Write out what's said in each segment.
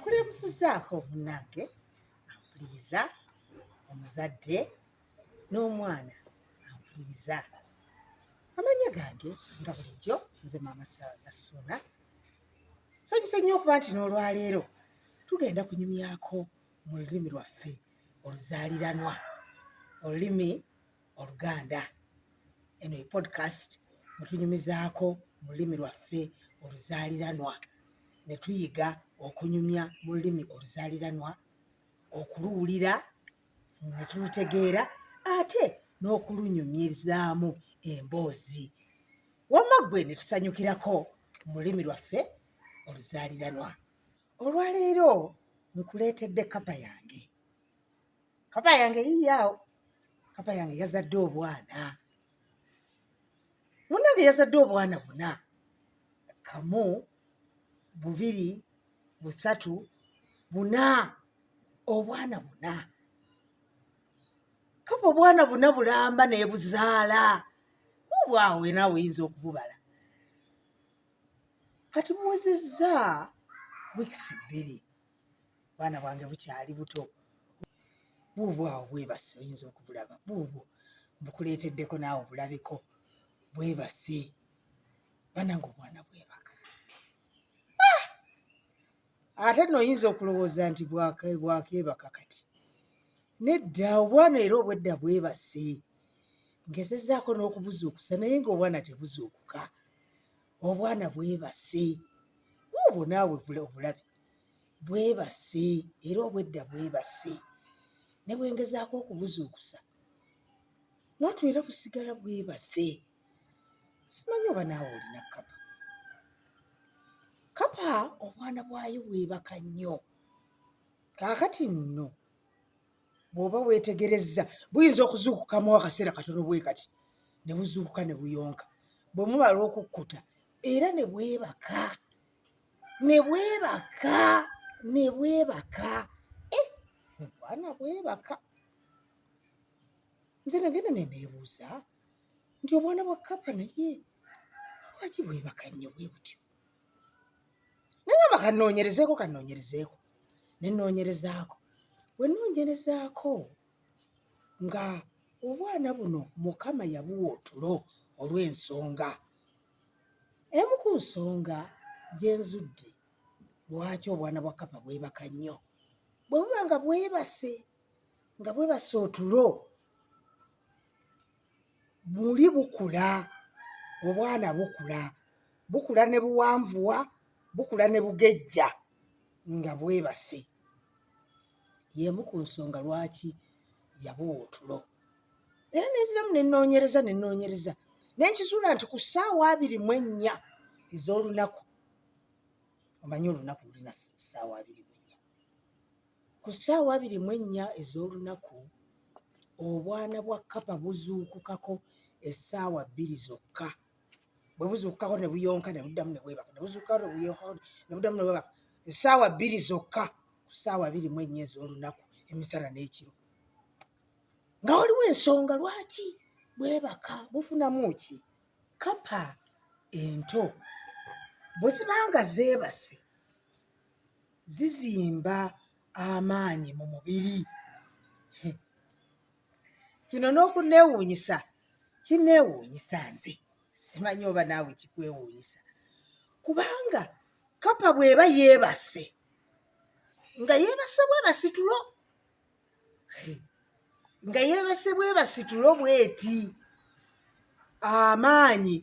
kulemusizaako omunange ampuliriza omuzadde n'omwana ampuliriza amannya gange nga bulijjo nze maama sasuuna Nsanyuse nnyo okuba nti n'olwaleero tugenda kunyumyako mu lulimi lwaffe oluzaaliranwa, olulimi Oluganda. Eno ye podcast mwe tunyumizaako mu lulimi lwaffe oluzaaliranwa ne tuyiga okunyumya mu lulimi oluzaaliranwa, okuluwulira. nga tulutegeera ate n'okulunyumirizaamu emboozi wamma ggwe ne tusanyukirako mu lulimi lwaffe oluzaaliranwa olwaleero nkuleetedde kapa yange kapa yange yiyaawo kapa yange yazadde obwana munange yazadde obwana buna kamu bubiri busatu buna obwana buna kapa obwana buna bulamba nebuzaala obwawe naawe oyinza okububala kati muwezezza weeks bbiri obwana bwange bukyali buto buubwo awo bwebasi oyinza okubulaba buubwo mbukuleeteddeko naawe obulabiko bwebasi banange obwana bwebaka ah! ate no oyinza okulowooza nti bwakeebaka kati nedda obwana era obwedda bwebase ngezezaako n'okubuzuukusa naye ngaobwana tebuzuukuka obwana bwebase obwo naawe obulabi bwebase era obwedda bwebase ne bwengezaako okubuzuukusa natu era busigala bwebase simanyi oba naawe olina kapa kapa obwana bwayo weebaka nnyo kaakati nno bw'oba weetegerezza buyinza okuzuukukamu akaseera katono bwe kati ne buzuukuka ne buyonka bwe mubala okukkuta era ne bwebaka ne bwebaka ne bwebaka eh, obwana bwebaka nze nagenda neneebuuza eh, nti obwana bwa kapa naye lwaki bwebaka nnyo bwe butyo nagamba kanoonyerezeeko kanoonyerezeeko ne noonyerezaako bwe noonyerezaako nga obwana buno mukama yabuwa otulo olw'ensonga emu ku nsonga gye nzudde lwaki obwana bwa kapa bwebaka nnyo bwe buba nga bwebase nga bwebase otulo buli bukula obwana bukula bukula ne buwanvuwa bukula ne bugejja nga bwebase y'emu ku nsonga lwaki yabuwa otulo era nenziramu nenoonyereza nenoonyereza nenkizuula nti ku ssaawa abiri mu ennya ez'olunaku omanyi olunaku lulina ssaawa abiri mu ennya Ku ssaawa abiri mu ennya ez'olunaku, obwana bwa kkapa buzuukukako essaawa bbiri zokka. Bwe buzuukukako ne buyonka ne buddamu ne bwebaka, ne buzuukukako ne buyonka ne buddamu ne bwebaka essaawa bbiri zokka ku ssaawa abiri mu ennya ez'olunaku emisana n'ekiro. Nga waliwo ensonga lwaki bwebaka bufunamu ki? Kkapa ento bwe ziba nga zeebase zizimba amaanyi mu mubiri. Kino n'okunneewuunyisa kinneewuunyisa nze, simanyi oba naawe kikwewuunyisa kubanga kkapa bw'eba yeebase nga yeebase bwebasi tulo. nga yeebase bwebasitulo bweti amaanyi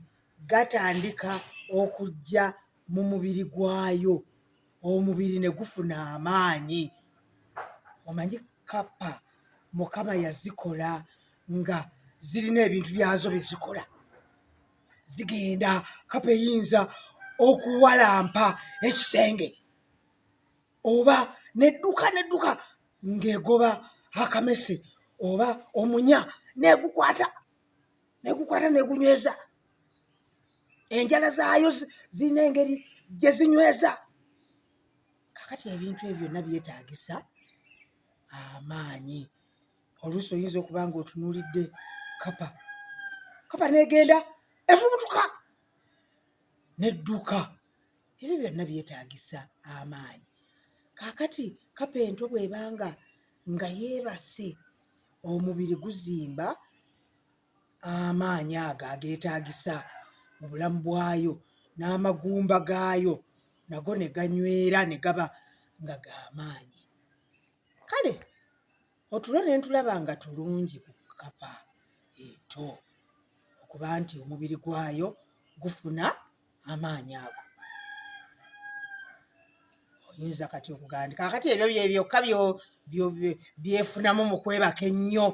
gatandika okujja mu mubiri gwayo omubiri ne gufuna amaanyi omanyi kappa mukama yazikola nga zirina ebintu byazo bye zikola zigenda kappa eyinza okuwalampa ekisenge oba nedduka nedduka ng'egoba akamese oba omunya negukwata negukwata negunyweza enjala zaayo zirina engeri gye zinyweza kakati ebintu ebyo byonna byetaagisa amaanyi oluusi oyinza okuba nga otunulidde kapa kapa negenda efubutuka nedduka ebyo byonna byetaagisa amaanyi kaakati kapa ento bwebanga nga yeebase omubiri guzimba amaanyi ago ageetaagisa mu bulamu bwayo n'amagumba gaayo nago ne ganywera ne gaba nga g'amaanyi kale otulo ne ntulaba nga tulungi ku kkapa ento okuba nti omubiri gwayo gufuna amaanyi ago oyinza kati okugandika kati ebyo byebyokka byefunamu mu kwebaka ennyo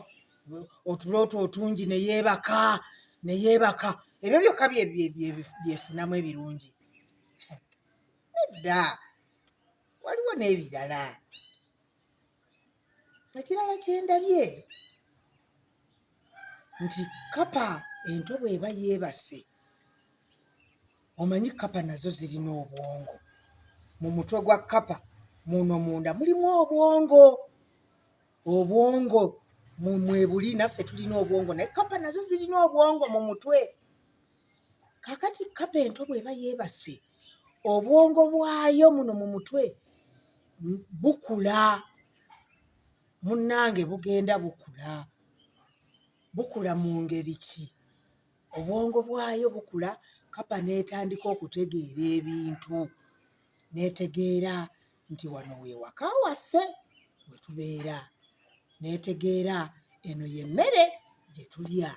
otulo otwo otungi ne yeebaka ne yeebaka ebyo byokka byefunamu ebirungi nedda waliwo n'ebirala ekirala kyendabye nti kapa ento bweba yeebase omanyi kapa nazo zirina obwongo mu mutwe gwa kapa muno munda mulimu obwongo obwongo mwebuli naffe tulina obwongo naye kapa nazo zirina obwongo mu mutwe kakati kapa ento bweba yeebase obwongo bwayo muno mu mutwe bukula munnange bugenda bukula bukula mu ngeri ki obwongo bwayo bukula kapa n'etandika okutegeera ebintu n'etegeera nti wano we waka waffe we tubeera, neetegeera eno ye mmere gye tulya,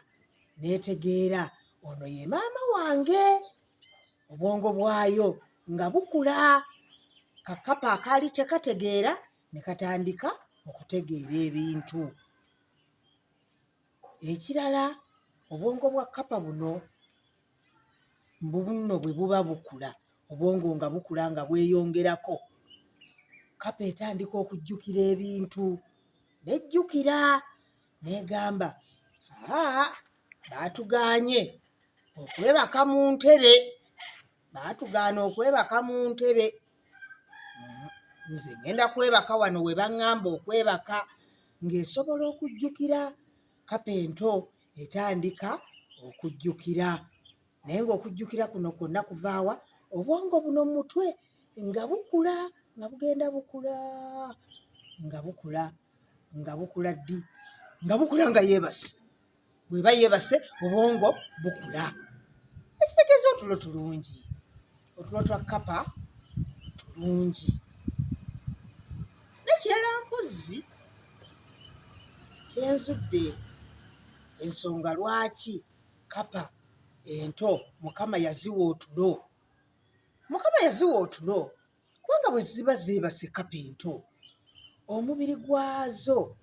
neetegeera ono ye maama wange, obwongo bwayo nga bukula, kakapa akaali tekategeera ne katandika okutegeera ebintu. Ekirala obwongo bwa kkapa buno mbu bunno bwe buba bukula obwongo nga bukula nga bweyongerako kkapa etandika okujjukira ebintu nejjukira n'egamba aa baatugaanye okwebaka mu ntebe baatugaana okwebaka mu ntebe nze ngenda kwebaka wano we baŋŋamba okwebaka ng'esobola okujjukira kapa ento etandika okujjukira naye ng'okujjukira kuno kwonna kuvaawa obwongo buno mu mutwe nga bukula nga bugenda bukula nga bukula nga bukula ddi nga bukula nga yeebase bweba yeebase obwongo bukula ekitegeeza otulo tulungi otulo twa kapa tulungi nekirala mpozzi kyenzudde ensonga lwaki kapa ento mukama yaziwa otulo mukama yaziwa otulo kubanga bwe ziba zeebase kapa ento omubiri gwazo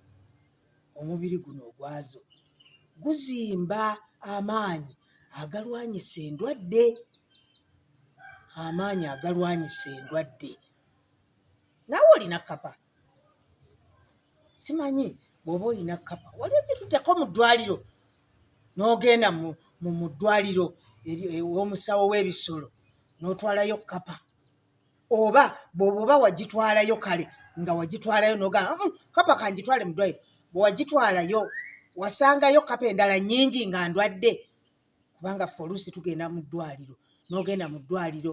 omubiri guno ogwazo guzimba amaanyi agalwanyisa endwadde amaanyi agalwanyisa endwadde naawe olina kapa simanyi bw'oba olina kapa waliwo gyetuddeko mu ddwaliro n'ogenda mu ddwaliro ew'omusawo w'ebisolo n'otwalayo kapa oba bwoboba wagitwalayo kale nga wagitwalayo nogamba mm, kapa kangitwale mudwayo bwewagitwalayo wasangayo kapa endala nyingi nga ndwadde kubanga fe oluusi tugenda mu ddwaliro nogenda mu ddwaliro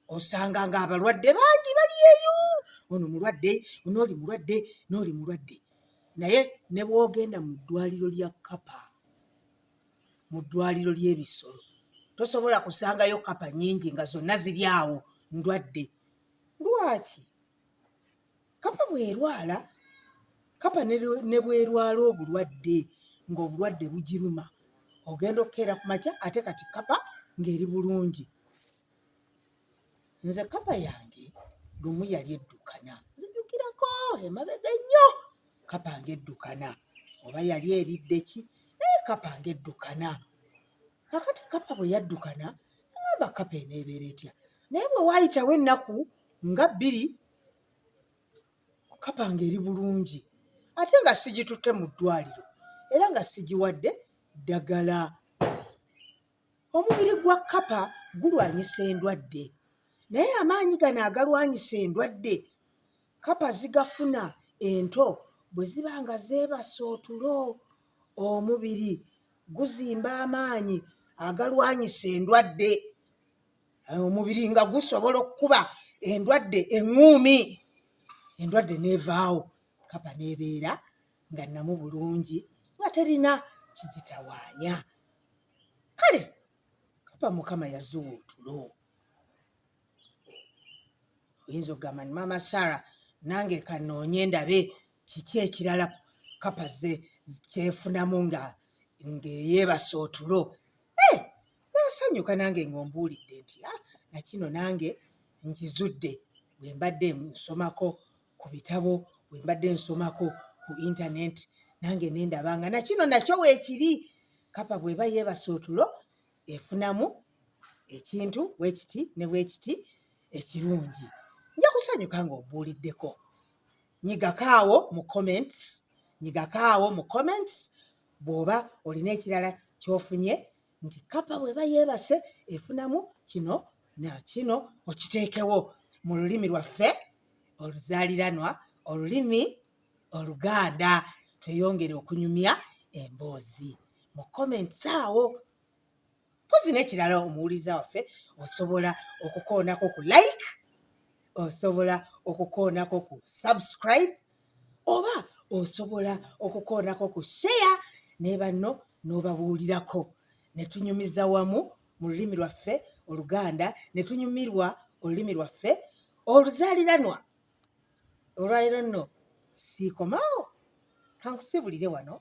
osanga nga abalwadde bangi balieyo ono mulwadde onooli mulwadde nooli mulwadde naye ne bwogenda mu ddwaliro lya kapa mu ddwaliro ly'ebisolo tosobola kusangayo kapa nyingi nga zonna ziri awo ndwadde lwaki kapa bwerwala kapa ne bwerwala obulwadde ng'obulwadde bugiruma ogenda okukeera ku makya ate kati kapa ng'eri bulungi nze kapa yange lumu yali eddukana nzijukirako emabega ennyo kapa nga eddukana oba yali eridde ki naye kapa nga eddukana kakati kapa bwe yaddukana agamba kapa eneebeera etya naye bwe waayitawo ennaku nga bbiri kapa nga eri bulungi ate nga sigitutte mu ddwaliro era nga sigiwadde ddagala Omubiri gwa kkapa gulwanyisa endwadde naye amaanyi gano agalwanyisa endwadde kkapa zigafuna ento bwe ziba nga zeebase otulo. Omubiri guzimba amaanyi agalwanyisa endwadde, omubiri nga gusobola okukuba endwadde eŋŋuumi, endwadde n'evaawo kkapa n'ebeera nga nnamu bulungi nga terina kigitawaanya. kale kapa mukama yaziwa otulo oyinza okugamba ni maama sara nange kanoonye ndabe kiki ekirala kapa ze kyefunamu nga ngeyebasa otulo eh, nasanyuka nange ngaombuulidde nti ah, nakino nange nkizudde bwe mbadde nsomako ku bitabo bwe mbadde nsomako ku intanenti nange ne ndaba nga na kino nakyo weekiri kapa bw'eba yeebasa otulo efunamu ekintu bwekiti ne bwekiti ekirungi nja kusanyuka ng'ombuuliddeko nyigako awo mu comments nyigako awo mu comments bw'oba olina ekirala ky'ofunye nti kapa bweba yeebase efunamu kino nakino okiteekewo mu lulimi lwaffe oluzaaliranwa olulimi oluganda tweyongere okunyumya emboozi mu comments awo mpozi nekirala omuwuliriza waffe osobola okukoonako ku like osobola okukoonako ku subscribe oba osobola okukoonako ku sheya ne banno n'obabuulirako ne tunyumiza wamu mu lulimi lwaffe Oluganda ne tunyumirwa olulimi lwaffe oluzaaliranwa. Olwaleero nno siikomawo kankusibulire wano.